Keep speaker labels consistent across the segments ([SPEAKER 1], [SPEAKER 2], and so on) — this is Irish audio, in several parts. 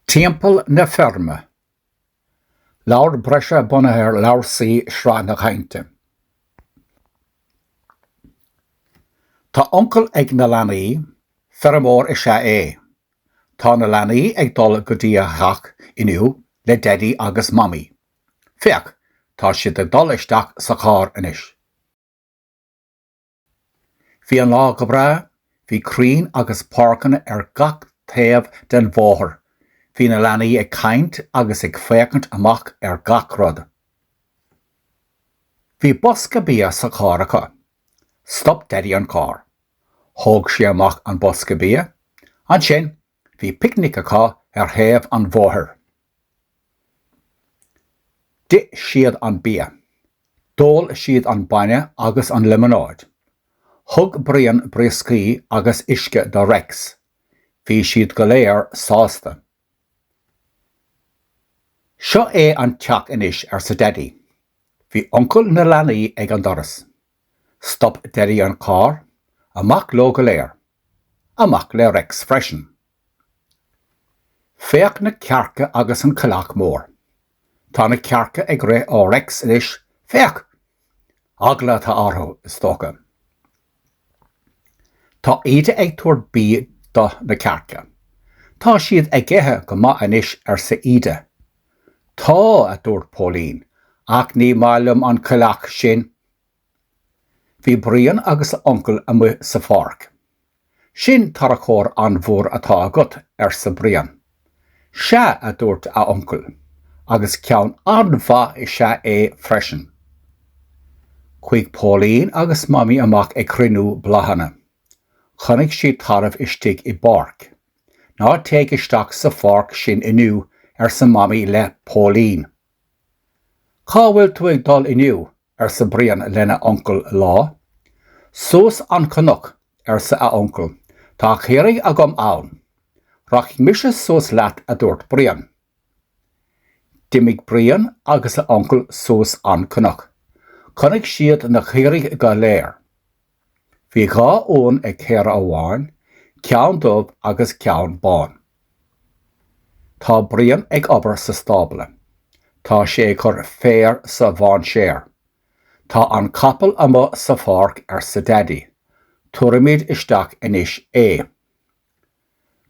[SPEAKER 1] Timpeall na Feirme. Leabhar breise bunaithe ar leabhar C, Sraith na Cainte. Tá uncail ag na leanaí, feirmeoir is ea é. Tá na leanaí ag dul go dtí a theach inniu le Daidí agus Mamaí. Féach, tá siad ag dul isteach sa charr anois. Bhí an lá go breá, bhí crainn agus páirceanna ar gach taobh den bhóthar. Bhí na leanaí ag caint agus ag féachaint amach ar gach rud. Bhí bosca bia sa charr acu. Stop Daidí an carr. Thóg sé amach an bosca bia. Ansin, Bhí picnic acu ar thaobh an bhóthair. D'ith siad an bia. D'ól siad an bainne agus an liomanáid. Thug Brian brioscaí agus uisce do Rex. Bhí siad go léir sásta. Seo é an teach anois, arsa Daidí. Bhí uncail na leanaí ag an doras. Stop Daidí an carr, amach leo go léir. Amach le Rex freisin. Féach na cearca agus an coileach mór. Tá na cearca ag rith ó Rex anois, féach! Eagla atá orthu, is dócha. Tá Íde ag tabhairt bídh do na cearca. Tá siad ag ithe go maith anois, arsa Íde. Tá, a dúirt Póilín, ach ní maith liom an coileach sin, Bhí Brian agus a uncail amuigh sa pháirc. Sin tarracóir an-mhór atá agat, arsa Brian. Sea, a dúirt a uncail, agus ceann an-mhaith is ea é freisin. Chuaigh Póilín agus Mamaí amach ag cruinniú bláthanna. Chonaic siad tarbh istigh i bpáirc. Ná téigh isteach sa pháirc sin inniu, arsa Mamaí le Póilín. Cá bhfuil tú ag dul inniu? arsa Brian lena uncail lá. Suas an cnoc, arsa a uncail, tá caoirigh agam ann. Rachaidh mise suas leat, a dúirt Brian. D'imigh Brian agus a uncail suas an cnoc. Chonaic siad na caoirigh go léir. Bhí dhá uan ag caora amháin, ceann dubh agus ceann bán. Tá Brian ag obair sa stábla. Tá sé ag cur féar sa mhainséar. Tá an capall amuigh sa pháirc arsa Daidí. Tabharfaimid isteach anois é.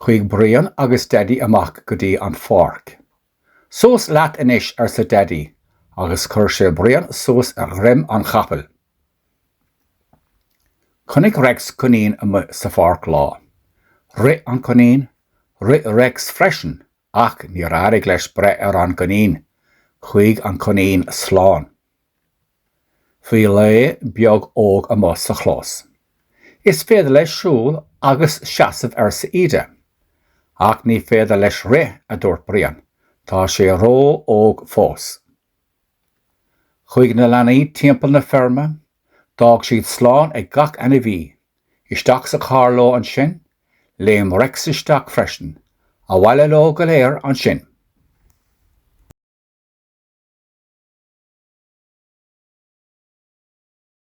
[SPEAKER 1] Chuaigh Brian agus Daidí amach go dtí an pháirc. Suas leat anois arsa Daidí agus chuir sé Brian suas ar dhroim an chapaill. Chonaic Rex coinín amuigh sa pháirc lá. Rith an coinín. Rith Rex freisin ach níor éirigh leis breith ar an gcoinín. Chuaigh an coinín slán. Bhí lao beag óg amuigh sa chlós. Is féidir leis siúl agus seasamh arsa Íde. Ach ní féidir leis rith, a dúirt Brian. Tá sé ró-óg fós. Chuaigh na leanaí timpeall na feirme, d'fhág siad slán ag gach ainmhí. Isteach sa charr leo ansin, léim Rex isteach freisin. Abhaile leo go léir ansin.